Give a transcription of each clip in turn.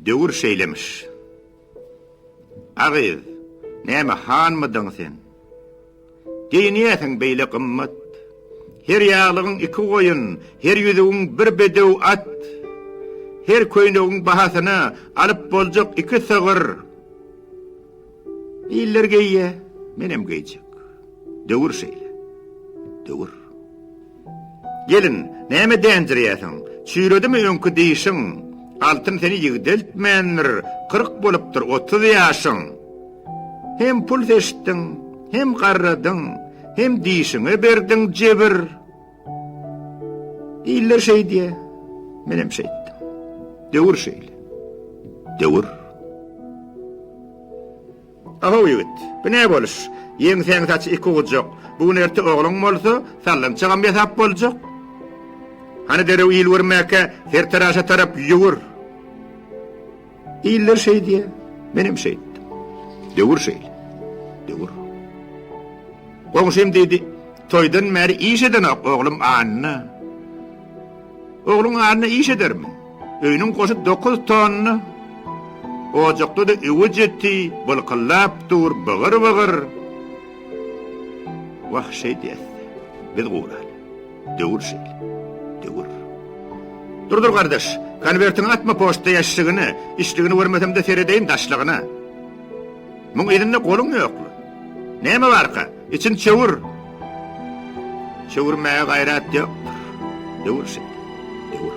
Döwür şeýlemiş. A gyz, näme hanmydyň sen? Geýinýäsiň beýle gymmat. Her ýaglygyň iki goýun, her ýüzügiň bir bedew at. Her köýnegiň bahasyna alyp boljak iki sygyr. Iller geýýär, menem geýjek. Döwür şeýle. Döwür. Gelin, näme dänjirýärsiň? Çüýredimi öňki dişiň? Altyn seni ýigdeltmändir, kyrk bolupdyr otuz ýaşyň. Hem pul seçdiň, hem garradyň, hem dişiňe berdiň jebir. Iller şeýdýär, menem şeýtdim. Döwür şeýle. Döwür. Ahow ýigit, bu ne boluş? Ýeňsäň saç iki ujak. Bu gün erte ogluň bolsa, sallançagam ýasap boljak. Hany derew il görmäkä sertaraşa tarap ýüwür. Iller şeýdýä, menem şeýtdim. Döwür şeýle. Döwür. Goňşym diýdi, Toýdan bäri iş edenok oglum Anna. Ogluň ýanynda iş edermi? Öýüniň goşy dokuz tonna. Ojakda-da öwüt eti bylkyldap dur, bygyr-bygyr. Wah, şeýdýäs-de, biz guraly. Döwür şeýle. Döwür. Dur, dur, gardaş, konwertiňi atma poçta ýaşşigine, içdigini görmesem-de seredeýin daşlygyna. Muň yzynda goluň ýokmy? Näme barka? Içini çöwür! Çöwürmäge gaýrat ýokdur. Döwür şit. Döwür.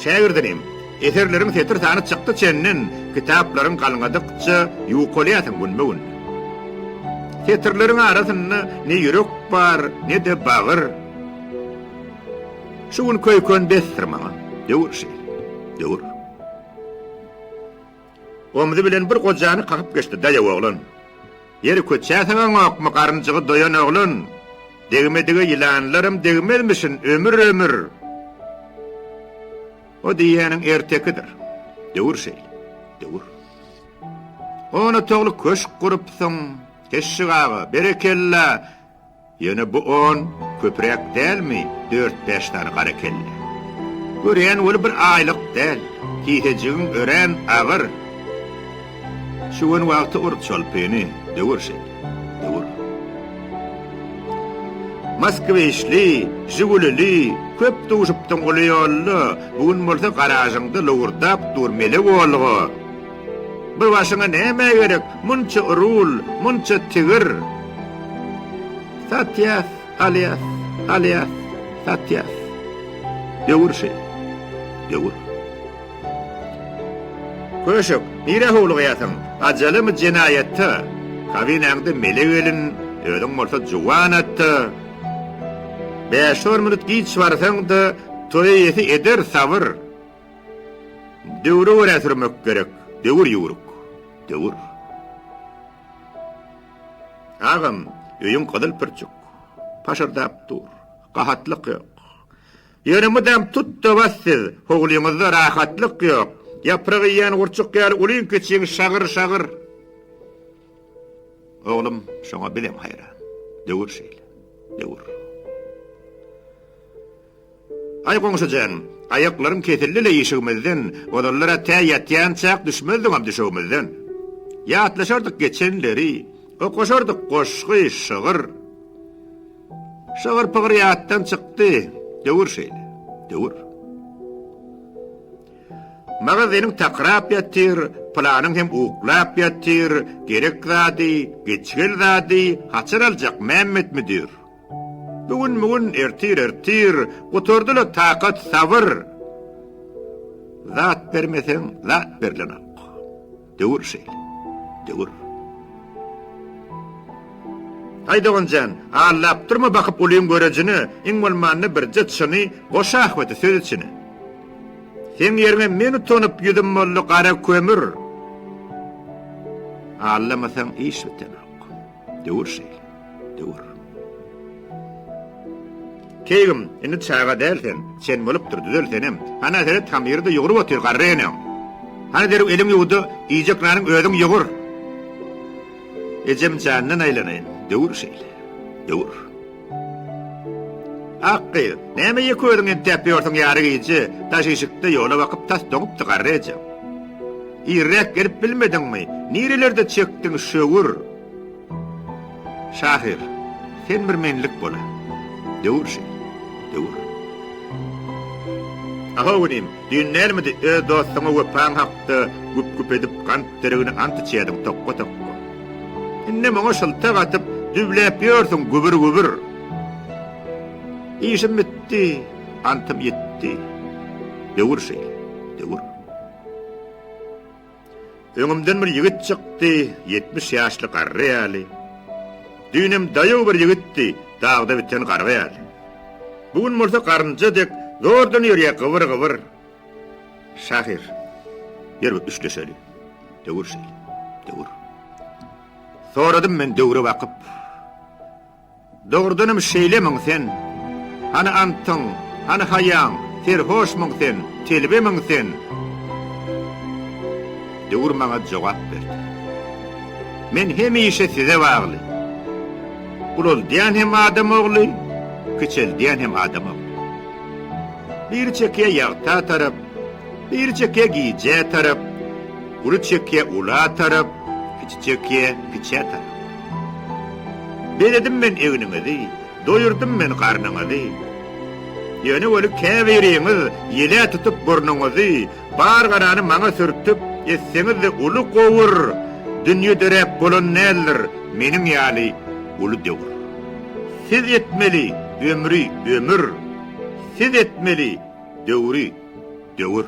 Şägirdinim, eserleriň setir sany çykdy çenden, kitaplaryň galňadykça ýuwkalýarsyň günbe-gün. Setirleriň arasynda ne ýürek bar, ne-de bagyr. Şu gün köý-kön besdir maňa. Döwür şit. Döwür. Omzy bilen bir gojany kakyp geçdi, Daýaw oglan! Ýeri köçäsiňaňokmy, garynjygy doýan oglan! Degmedige ýylanlaram degmezmişin, ömür-ömür! O diýýäniň ertekidir. Döwür şeýle. Döwür. On otagly köşk gurupsyň, Keşşik aga, berekella! Ýöne bu on köpüräk dälmi dört-bäş sany gara kelle? Görýän weli bir aýlyk däl, kisejigiň örän agyr. Şüwen wagty ur çolpyny, döwür şeýle, döwür. Moskwiçli, žigulili köp duşupdyň uly ýolda, bu gün bolsa garažyňda lowurdap dur mele bolga. Bu başyňa nämä gerek, munça rul, munça tigir? Satýas, alýas, alýas, satýas. Döwür şeý. Döwür. Köşek, nirä howlugýarsyň? Ajalymy jenaýatda? Kabinäňde mele gelin, özüň bolsa juwan atda. Bäş-on minut giç barsaň-da, toýa ýesi eder sabyr. Döwre görä sürmek gerek. Döwür ýüwrük. Döwür. Agam, öýüň gyzyl pürçük. Paşyrdap dur. Gahatlyk ýok. Ýöne mydam tut-da bas siz. Howlyňyzda rahatlyk ýok. Ýaprak iýýän gurçuk ýaly ulyň-kiçiň şagyr-şagyr. Oglum, şoňa bizem haýran. Döwür şeýle. Döwür. Aý goňşy jan, aýaklarym kesildi-le işigimizden, ozallar-a tä ýatýançak düşmezdiňam düşegimizden. Ýatlaşardyk geçenleri, okaşardyk goşgy, şygyr. Şygyr-pygyr ýatdan çykdy, döwür şeýle, döwür. Maňa zeniň takyrap ýatyr, pylanyň hem uklap ýatyr, gerek zady, geçgel zady haçan aljak Mämmet müdir? Bigün-migün, ertir-ertir, gutardy-la takat, sabyr. Zat bermeseň, zat berilenok. Döwür şeýle, döwür. Aý, dogan jan, allap durma bakyp ulyň görejine, iň bolmanda birje çyny goş ahbeti söz içine. Seň ýeriňe men utanyp ýüzüm boldy gara kömür. Allamasaň iş bitenok. Döwür şeýle. Döwür. Keýgim, indi çaga däl sen. Çen bolupdyr, düzel senem. Hana seret, hamyry-da ýugrup otyr garry eneň. Hany derrew eliňi ýuw-da, iýjek nanyň özüň ýugur. Ejem jandan aýlanaýyn. Döwür şeýle. Döwür. Ak gyz, näme ýeke özüň entäp ýörsüň ýary gije, daş işikde ýola bakyp tas doňupdy garry eje. Irräk gelip bilmediňmi, nirelerde çekdiň şöwür. Şahyr, sen bir menlik bola. Döwür şeý, döwür. Ahow inim, Düýn nälmidi öz dostuňa wepaň hakda güp-güp edip gant derigine ant içýärdiň tokga-tokga. Indem oňa şyltak atyp, düwläp ýörsüň gübür-gübür. Işim bitdi, antym ýitdi. Döwür şeýle, döwür. Öňümden bir ýigit çykdy, ýetmiş ýaşly garry ýaly. Düýnem daýaw bir ýigitdi, dagda biten garga ýaly. Bu gün bolsa garynja dek zordan ýörýär gybyr-gybyr. Şahyr, ýör bir üçleşeli. Döwür şeýle, döwür. Soradym men döwre bakyp. Dogrudanam şeýlemiň sen? Hany antyň, hany haýaň, serhoşmyň sen, telbemiň sen? Döwür maňa jogap berdi. Men hemişe size bagly. Ulaldýan hem adam ogly, kiçeldýän hem adam ogly. Biri çekýä ýagta tarap, biri çekýä gijä tarap, uly çekýä ula tarap, kiçi çekýä kiçä tarap. Bezedim men egniňizi, doýurdym men garnyňyzy. Ýöne weli käbiriňiz ýele tutup burnuňyzy, bar garany maňa sürtüp, etseňiz-de uly gowur, dünýe döräp bolan däldir meniň ýaly uly döwür. Siz etmeli ömri ömür, siz etmeli döwri döwür.